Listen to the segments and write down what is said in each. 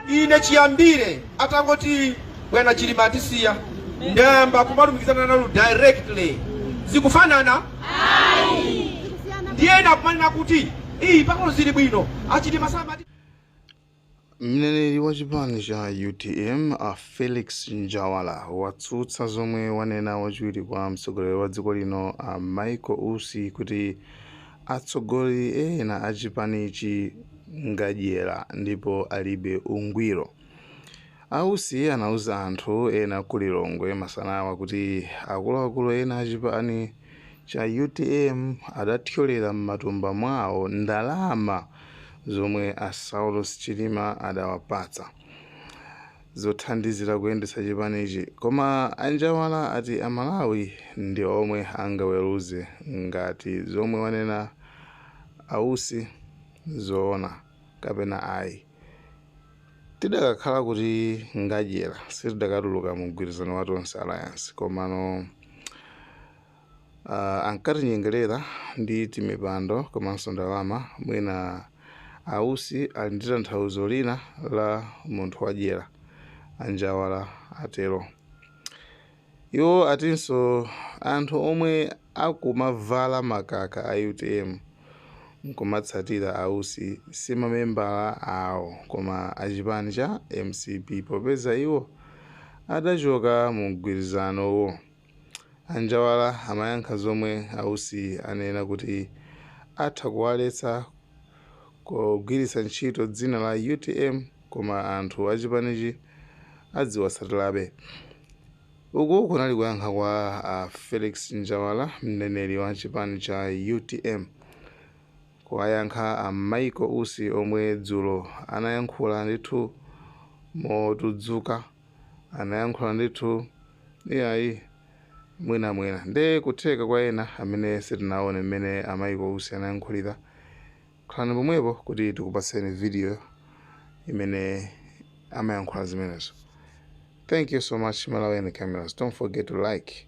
Ine chiyambire atangoti bwana Chilima atisiya ndayamba kumalumikizana nanu directly zikufanana ndiye ena kumanena kuti iyi pang'ono zili bwino achilima samati Mneneri wa chipani cha UTM a Felix Njawala watsutsa zomwe wanena wachiwiri kwa mtsogoleri wa dziko lino a Michael Usi kuti Atsogoleri ena a chipanichi ngadyera ndipo alibe ungwiro. A Usi anauza anthu ena ku Lilongwe masanawa kuti akuluakulu ena a chipani cha utm adathyolera m'matumba mwawo ndalama zomwe a Saulos Chilima adawapatsa. zothandizira kuyendetsa chipanichi koma a Njawala ati a Malawi ndi omwe angaweruze ngati zomwe wanena a Usi n'zoona kapena ayi. Tidakakhala kuti ngadyera sitidakatuluka mu mgwirizano wa Tonse Alliance komano. Uh, ankatinyengerera ndi timipando komanso ndalama mwina a Usi ali ndi tanthauzo lina la munthu wadyera a Njawala atero iwo atinso anthu omwe akumavala makaka a utm nkumatsatira a Usi si mamembala awo koma achipani cha mcp popeza iwo adachoka mu mgwirizanowo A Njawala amayankha zomwe a Usi anena kuti atha kuwaletsa kugwiritsa ntchito dzina la utm koma anthu a chipanichi adziwatsatirabe. Uku kunali kuyankha kwa a Felix Njawala, mneneri wa chipani cha utm, kuwayankha a Michael Usi omwe dzulo anayankhula ndithu motudzuka. anayankhula ndithu iyayi mwina mwina nde kutheka kwa ena amene sitinaone mmene a Michael Usi anayankhulira khalani pomwepo kuti tikupatseni video imene amayankhula zimenezo thank you so much malawian cameras don't forget to like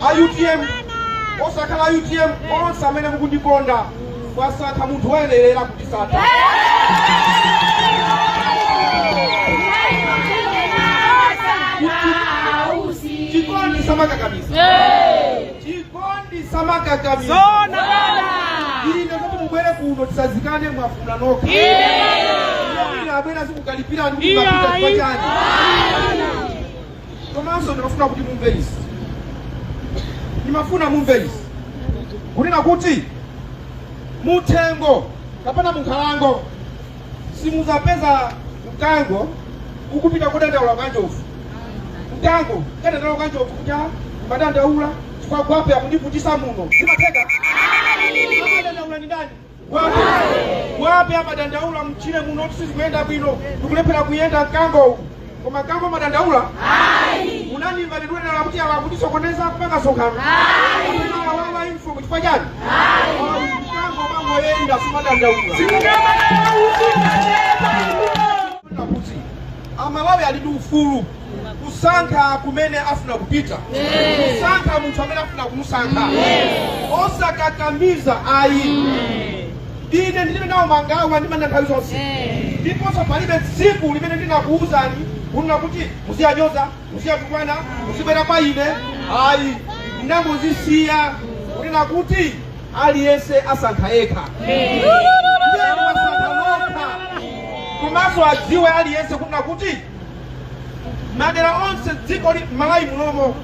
a utm osakhala a utm onse amene mukundikonda mwasankha munthu woyenerera kutsata chikondi samakakamiza chikondi samakakamiza ine kuti mubwere kuno tisazikane mwafuna nokha ine abwera zikukalipira ndi mapita chipachani komanso ndimafuna kuti mumve izi ndimafuna mumve izi kunena kuti muthengo kapena munkhalango simuzapeza mkango ukupita kudandaula kwa njovu mkango kukadandaula kwa njovu kuti "Ah, ndadandaula chifukwa gwape akundivutisa muno sizimatheka amadandaula ni ndani gwape amadandaula mchire muno sizikuyenda bwino ndikulephera kuyenda mkango uku koma mkango amadandaula unanimba ndidwedala kuti awa akutisokoneza kupanga sokano awawa info chifukwa chani mkango amangoyenda sumadandaula kuti amalawi ali ndi ufulu kusankha kumene afuna kupita kusankha munthu amene afuna kumusankha osakakamiza ayi ine ndilibe nawo mangawa ndimanena nthawi zonse ndiponso palibe tsiku limene ndinakuwuzani kunena kuti muziyanyoza muziyatukwana muzibwera kwa ine ayi ndinangozisiya kunena kuti aliyense asankha yekha Iye wasankha lokha komanso adziwe aliyense kunena kuti madera onse dziko la malawi munomo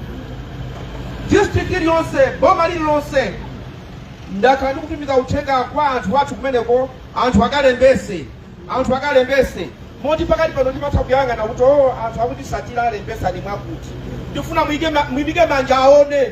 district iliyonse boma lililonse ndakhala ndikutumiza uthenga kwa anthu athu kumeneko anthu akalembese anthu akalembese moti pakati pano ndimatha kuyang'ana kuti o anthu akunditsatira alembesa mwakuti ndifuna muike ma- muimike manja aone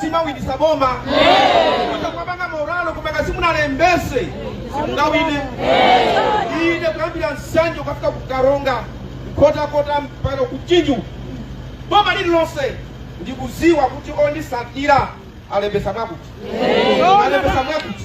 simawinisa boma kuja kumapanga moralo kumaka simunalembese simungawine ine kuyambira nsanje ukafika kukaronga nkhotakota mpaka kumchinji boma lililonse ndikuziwa kuti ondisatira alembesa mwakuti alembesa mwakuti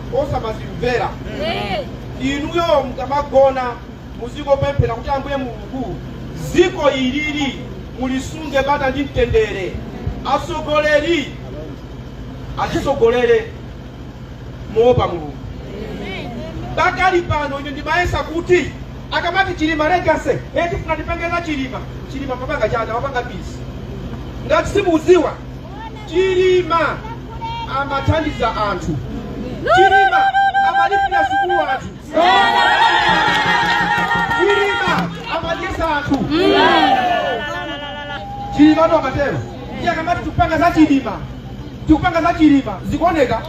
osamazimvera inuyo mukamagona muzingopemphera kuti ambuye mulungu ziko ilili mulisunge bata ndi mtendere atsogoleri atitsogolere moopa mulungu pakadali pano ine ndimayesa kuti akamati chilima legacy eti tifuna tipange za chilima chilima amapanga chani amapanga pisi ngati simuziwa Chilima amathandiza anthu. Chilima amalipira sukulu anthu. Chilima amadyesa anthu. Chilima nde amatero. Iye akamati tikupanga za Chilima. Tikupanga za Chilima. Zikuoneka?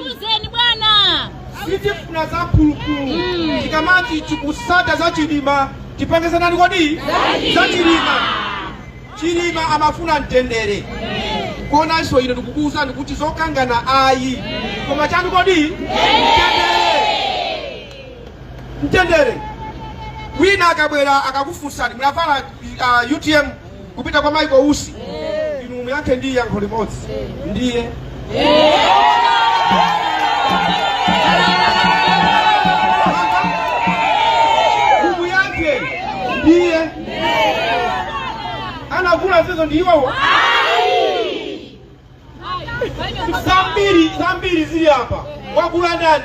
Uzeni bwana. Sitifuna za phulupulu. Tikamati tikusata za Chilima. Tipange za ndani kodi? Za Chilima. Chilima amafuna mtendere konanso ine ndikukuwuzani kuti zokangana ayi koma chanu kodi mtendere wina akabwera akakufunsani munavala utm kupita kwa Michael Usi inu muyankhe ndi yankho limodzi ndiye Kumuyankha ndiye anavula zizo ndi iwowo. Zambiri zambiri zili apa, wakula ndani?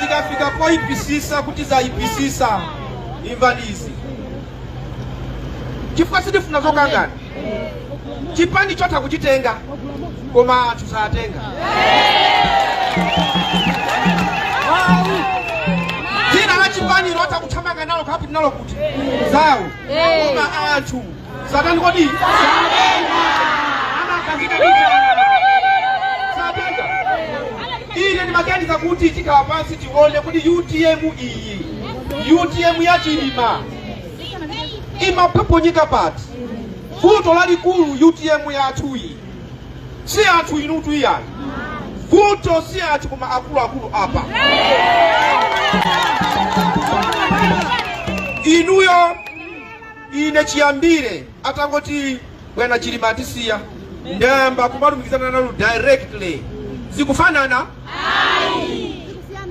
zikafika poyipisisa kuti zayipisisa imvani izi chifukwa sitifuna zokangana chipani chotha kuchitenga koma anthu saatenga dzina la chipani lotha kuthamanga nalo kupita nalo kuti zawo koma anthu satani kodi satenga ine ndimaganiza kuti tikhale pansi tione kuti utm iyi utm ya chilima imaphoponyeka pati vuto lalikulu utm yathuyi si anthu inutu iyayi vuto si anthu koma akuluakulu apa inuyo Ine chiyambire atangoti bwana Chilima atisiya ndayamba kumalumikizana nanu directly zikufanana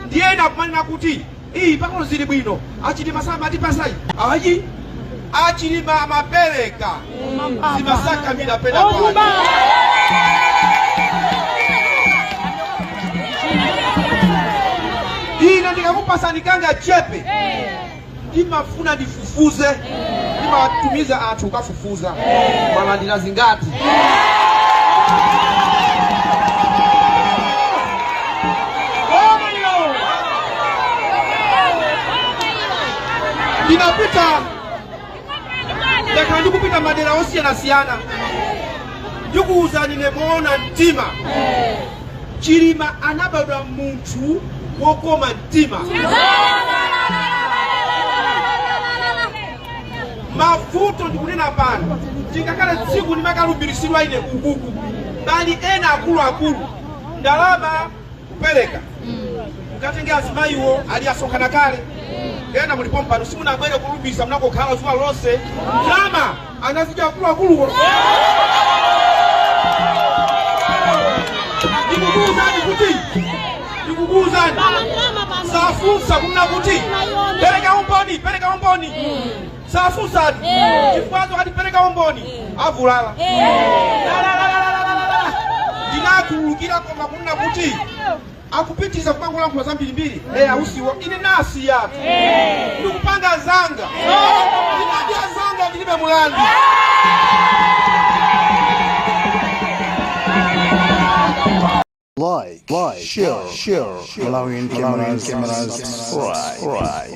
ndiye ena akumanena kuti iyi pano zili bwino achilima samatipasayi ayi achilima amapereka zimatsakamira pena pake ine ndikakupasani kanga chepe ndimafuna ndifufuze ndimatumiza anthu kukafufuza mwalandira zingati ndinapita ndakhala ndikupita madera osiyanasiyana ndikuwuzani ine moona mtima chilima anabadwa munthu wokoma mtima mavuto ndikunena pano tingakhale tsiku ndimakalumbiritsidwa ine kukuku pali ena akuluakulu ndalama kupereka mukatenge azimayiwo ali asonkhana kale ena mulipo mpano simunabwere kulubisa munangokhala zuwa lonse ndalama anazidya akuluakuluwo ndikukuuzani kuti ndikukuuzani safunsa kumna kuti pereka umboni pereka umboni sasusatu chifukwa adatipereka umboni avulala ndinakhululukira koma kunena kuti akupitiriza kumangolankhula zambirimbiri e ausiwo ine nasiyatu ndikupanga zanga ndinadya zanga ndilibe mulandu Like, like, share, share, share. Malawian cameras, cameras, subscribe.